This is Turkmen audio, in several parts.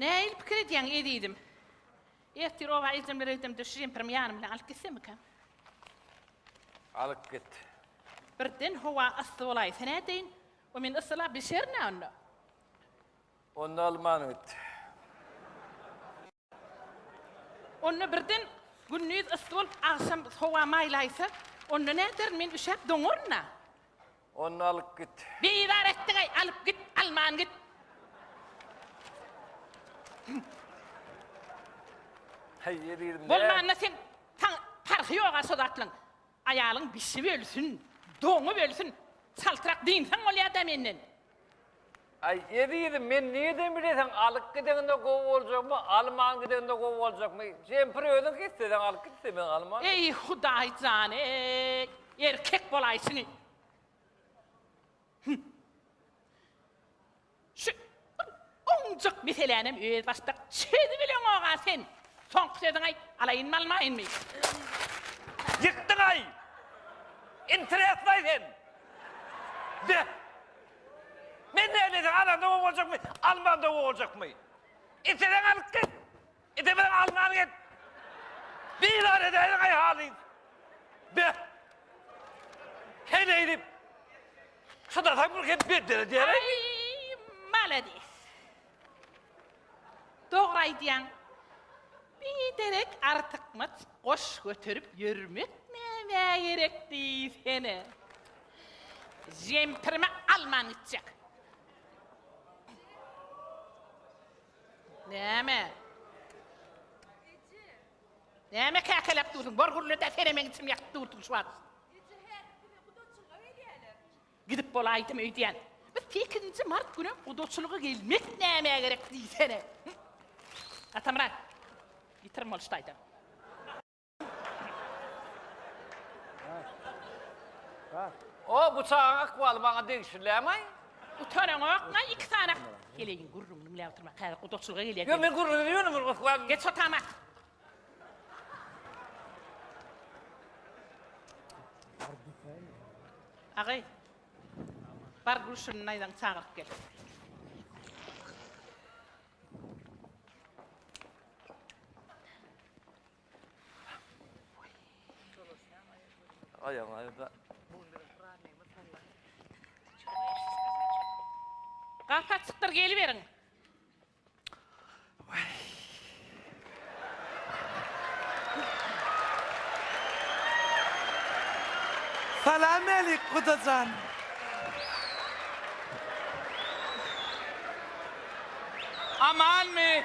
Näil pikir edýäň, ezizim? Ertir oba ejem bilen edemde şu jemperimi ýanym bilen alyp gitsemikäm? Alyp git. Birden howa yssy bolaýsa nädeýin? O men yssylap bişerin-ä onda. Onda alman git. Onda birden gündiz yssy bolup, agşam howa maýlaýsa, onda näderin, men üşäp doňaryn-a. Ony alyp git. Bizar etdiň-eý, alyp git, alman git. Heý, eziz, nä? Bolmanda sen, saň parhy ýog-a şo zatlaryň. Aýalyň bişip ölsün, doňup ölsün, çaltrak dynsaň bolýada menden. Aý ezizim men nireden bileseň alyp gideňde gowy boljakmy alman gideňde gowy boljakmy kempir özüňki isleseň alyp git ise men alman. Eý hudaý jan eý erkek bolaýşyňy. Hum. Şu bir ownujak meselänem özbaşdak çözüp bileňoga sen! Soňky sözüňi aýt, alaýynmy almaýynmy? Ýykdyňaý! Interesnaý sen! Be! Men näleýsem alanda gowy boljakmy, almanda gowy boljakmy? Isleseň alyp git! Edemeden alňan git. Bizar edäýdiň aý halyn. Be. Heleý diýip. Çydasaň bir hem beddel edýär. Aý, maladis. Dogry aýdýaň. Biderek artykmaç goş göterip ýörmek nämä gerek diýsene. Jempirimi alman gitjek. Näme? Näme käkeläp dursuň? Bor gürle-dä, senem meň içim ýakyp durdy şu wagt. Eje, häzir güne gudaçylyga gelýärler. Gidip bolaýdym öýdýän. Biz sekizinji mart günem gudaçylyga gelmek nämä gerek diýsene? Atamyrat, ýitirim bolşudy aýdan. O bu çagaň akwaly bana degişilämaý. Utaran okna iki sany. Geleýin gürrüňini diňläp oturma. Häzir gudaçylyga gelýär. Yo men gürrüňi diýmedim bir akwa. Geç otama. Agay. Bar gülşünün aydan çağırıp gel. Aýagyň aýda. Gap açykdyr, geliberiň. Salam älik gudajan. Amanmy?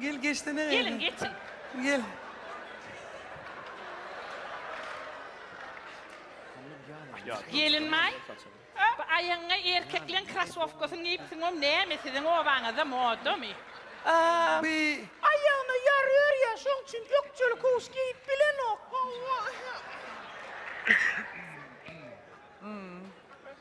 Gel geçsene. Gelin geçin. Gel. Gelin may. Bu aýagyňa erkekleň krasowkasyny geýipsiň oň näme siziň obaňyzda modamy? Aa, bi aýagyna ýary örýär şoň üçin ökjeli kowuş geýip bilenok.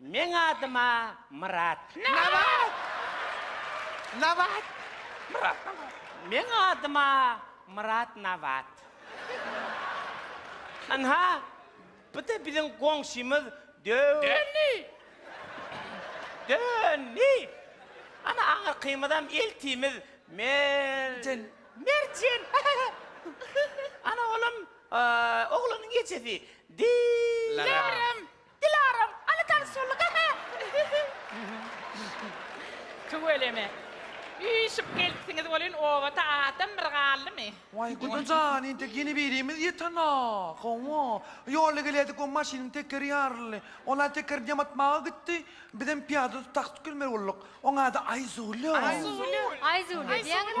Meň adyma Myrat. Nabat! Nabat! Myrat Nabat. Meň adyma Myrat Nabat. Ynha, bu-da biziň goňşymyz Dö. Dönni! Dönni! Ana, aňyrkymyzam eltimiz Mer. Jen. Merjen! Ana, olam, oglanyň ejesi Di. Larem. Dilaram, Aly tanyşaly gahar. Tüweleme. Üýşüp gelipsiňiz welin obada adam bir galdymy? Waý guda jan entek ýene birimiz ýetena. Hawa. Ýolda gelýädik we maşynyň tekeri ýaryldy. Ol-a tekerini ýamatmaga gitdi. Bizem pyýada taks tükürmeli bolduk. Oň ady Aýzule. Aýzule. Aýzule diýýäňiz?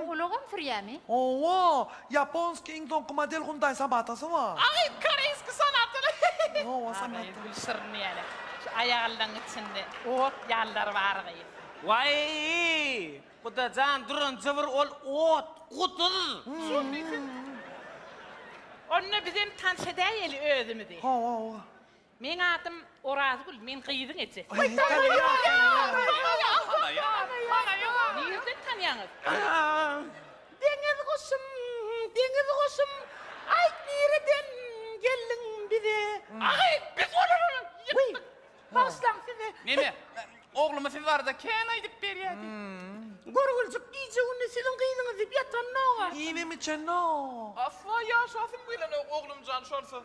O ulagam sürýämi? Hawa, ýaponsky iň soňky model Hyundai Sobatasy bar. Aý, koreýski Sonatany. Hawa, Sonata. Gül şirin ýene. Şu aýagyllaň içinde ot ýalylar bar gyýw. Waý, gudajan duran jybyr ol ot, guduz. Şonda bizem tans edäýeli özümizi. Hawa, hawa. Meň adym Orazgül, men gyzyň ejesi. Nirden tanýaňyz? Deňiz guşum, deňiz guşum, aýt nireden geldiň bize? Agy, biz Wuý, bagyşlaň sizi. Neme, oglumy siz barada kän aýdyp berýärdi. Görgüljik gije-gündiz siziň gyzyňyz diýip ýatanok-a. Iýenem-içenem. Asla ýaşasym gelenok, oglumjan şonsuz.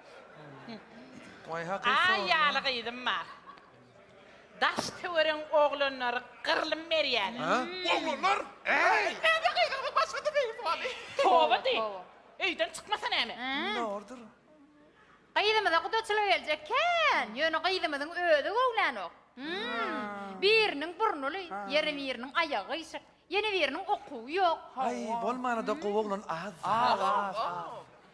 Wai haky sorma. Aý ýaly gyzym bar. Daş töwerek oglanlary gyrlym berýäler. Ha? Oglanlar? Äý! Näme gygyrgy başlady gyz wani. Toba diý. Öýden çykmasa näme? Indi bordur. Gyzymyza gudaçylyk eljek kän, ýöne gyzymyzyň özi göwlänok. Hmm. Biriniň burnuly, ýeri biriniň aýagy gyýşyk. Ýene biriniň okuwy ýok. Aý bolmanyda gowy oglan az. Az az az.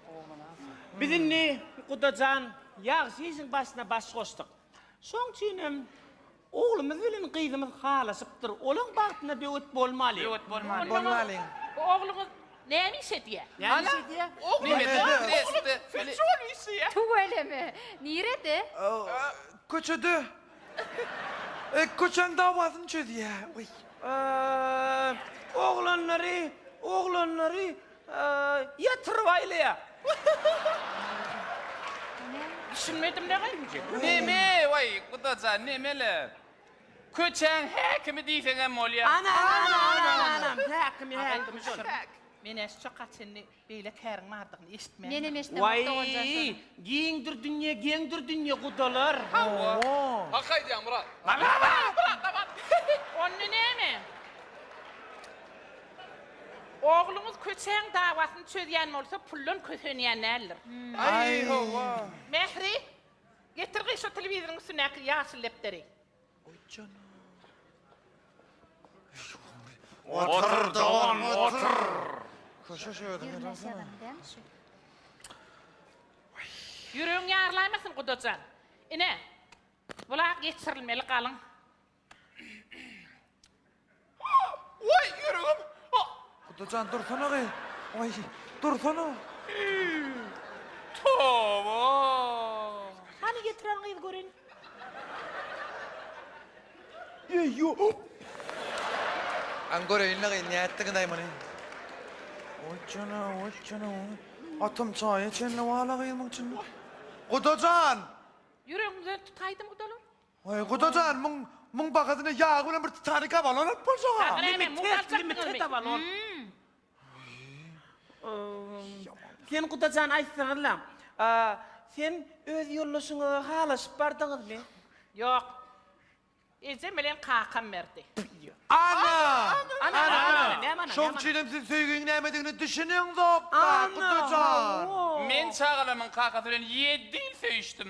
Gowy oglan az. Biz indi Gudajan ýagşy işiň başyna baş goşdyk. Şoň üçinem oglumyz bilen gyzymyz halaşypdyr. Olaň bagtyna böwet bolmalyň. Böwet bolmalyň. Bolmalyň. Bu ogluňyz näme iş edýär? Näme iş edýär? Oglum sütçi bolup işleýär. Tüweleme. Nirede? Köçede. Köçäň dawasyny çözýä. Oglanlary, oglanlary ýatyryp aýlaýa. Düşünmedim dagy inje. Neme waý gudajan nemele. Köçäň häkimi diýseňem bolýa. Anam anam anam anam häkimi häkimi şol. Meneş çoka çenli Beýle käriň bardygyny eşitmändim. Menem eşidemok Waý, doganjan şony. giňdir dünýe, geňdir dünýe, gudalar. Hawa. Hak aýdýaň Myrat. Onda näme? Ogluňyz köçäň dawasyny çözýän bolsa puldan kösenýän däldir. Aý, hawa. Mähri, getir gyýy şo telewizoryň üstündäki ýaşyl depderi. Goý janaa. Otur dogan, otur. Köşe şu özüňe barsana. Ýüregiň ýarylaýmasyn gudajan. Ine, bula geçirilmeli galyň. Waý, ýüregim! Kuda jan, dursana-gy! Waý, dursana! Toba! Hany getiren gyz görin. Eý, ýo-o! Aň göreýin-le-gy, nätdigiň-aý muny? Oý jana, oý jana, oý! Atam çaýa çenli bal-a gyzmyň içinde. Kuda jan! Ýüregiňden tutaýdym, gudalar! Oý, guda jan, muň, muň bagadyna ýagy bilen bir Titanik abalon alyp boljaga. Limited, limited abalon. Sen, guda jan, aýtsana-la, sen öz ýoldaşyňa halaşyp bardyňyzmy? Ýok. Ejem bilen kakam berdi. Ana! Ana, ana, ana, näme ana, Şoň näme üçin hem siz söýgiň nämedigine düşüneňzok-da, guda jan. Men çagalarymyň kakasy bilen ýedi ýyl söýüşdim.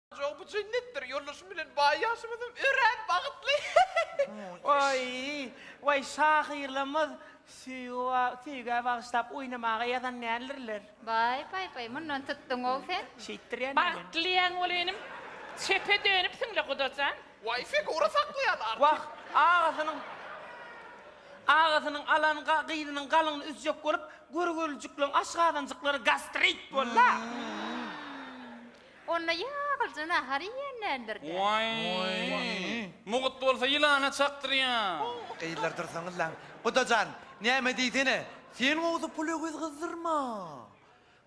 Jok bu jennetdir ýoldaşym bilen baý ýaşymyzam örän bagytly. Waý waý şahyrlarymyz söýgä bagyşlap oýnamaga ýazan däldirler. Baý baý baý mundan tutduňow sen. Şeýtdir ýa näme. Bagtly ýaň bol inim. Çepe dönüpsiňle Gudajan. Waý figura saklaýan artist. Wah agasynyň agasynyň alan gyzynyň galyňyny üzjek bolup görgülijikleriň aşgazanjyklary gastrit bolda. Onda ýagyljy nahar iýenlerdir dä. Waý! Mugt bolsa ýylana çakdyrýa. Gyzlar dursaňyzlaň. Guda jan, näme diýsene. Sen gowsy pul öwez gyzdyrma.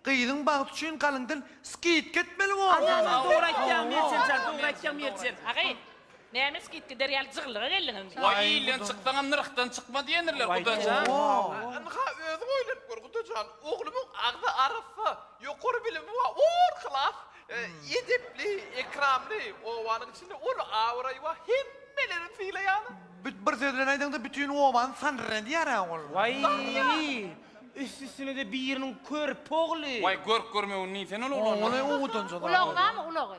Gyzyň bagty üçin galyňdan skidka etmeli bolupsyň. Dogry aýtýaň Meljen jan, dogry aýtýaň Meljen. Agy! Näme iş git gider ýaly jygyllyga geldiň indi. Waý ilden çyksaňam nyrhdan çykma diýendirler gudajan. Ynha özüň oýlanyp gör gudajan oglumyň agzy arassa, ýokary bilimi bar, or klas, edepli, ekramly, obanyň içinde uly abraýy bar, hemmeleri sylaýalar. Bir söz bilen aýdaňda bütin obany sandyr edýärä ol. Waý üst üstünede biriniň körpe ogly. Waý görk görmegini diýsene ol oglanyň. Ulagyňamy ulagy.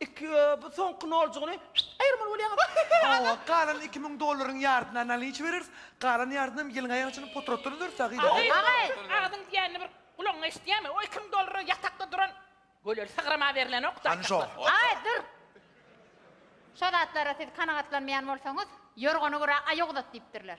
Iki bu soňky noljygyny aýyrmaly bolýaňyz ahyhy azyz. Hawa galan iki müň dollaryň ýardyna nalinçi bereris, galan ýardynyam ýylyň aýagyçyny potratdan öderis agyz. Agyz Agyz. agyzyň diýenini bir gulagyňa eşidýämi? O iki müň dollara ýatakda duran göleli sygrama berlenokdy Hany şo. aýtaklar. Aý dur. Şo zatlara siz kanagatlanmaýan bolsaňyz, ýorgany gura aýak uzat diýipdirler.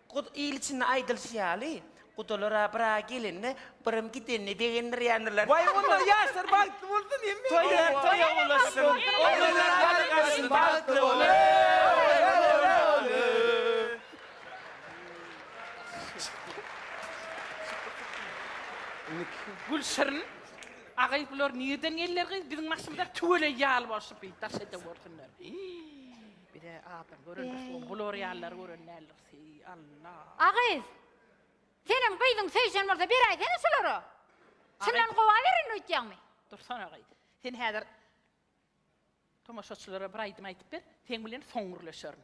Gud il içinde aýdylyşy ýaly, gudalar-a bir-a gelende, birim gidende begendirýändirler. Waý, onda ýaşlar bagtly bolsun hemme. Toýlar toýa ulaşsyn. Onular gargaşsyn, bagtly bolsun. Gülşirin, Agay bular nirden geldiler gyz biziň başymyza tüweleý ýaly bolşup bir daş edewörsinler. Bize adam görende soň bular ýalylary gören däldiris heý Allah. A gyz. Seniň gyzyň söýşen bolsa beräýsene şulara. Şundan gowa berin öýtýäňmi? Dursana gyz. Sen häzir tomaşaçylara bir aýdym aýdyp ber. Seň bilen soň gürleşerin.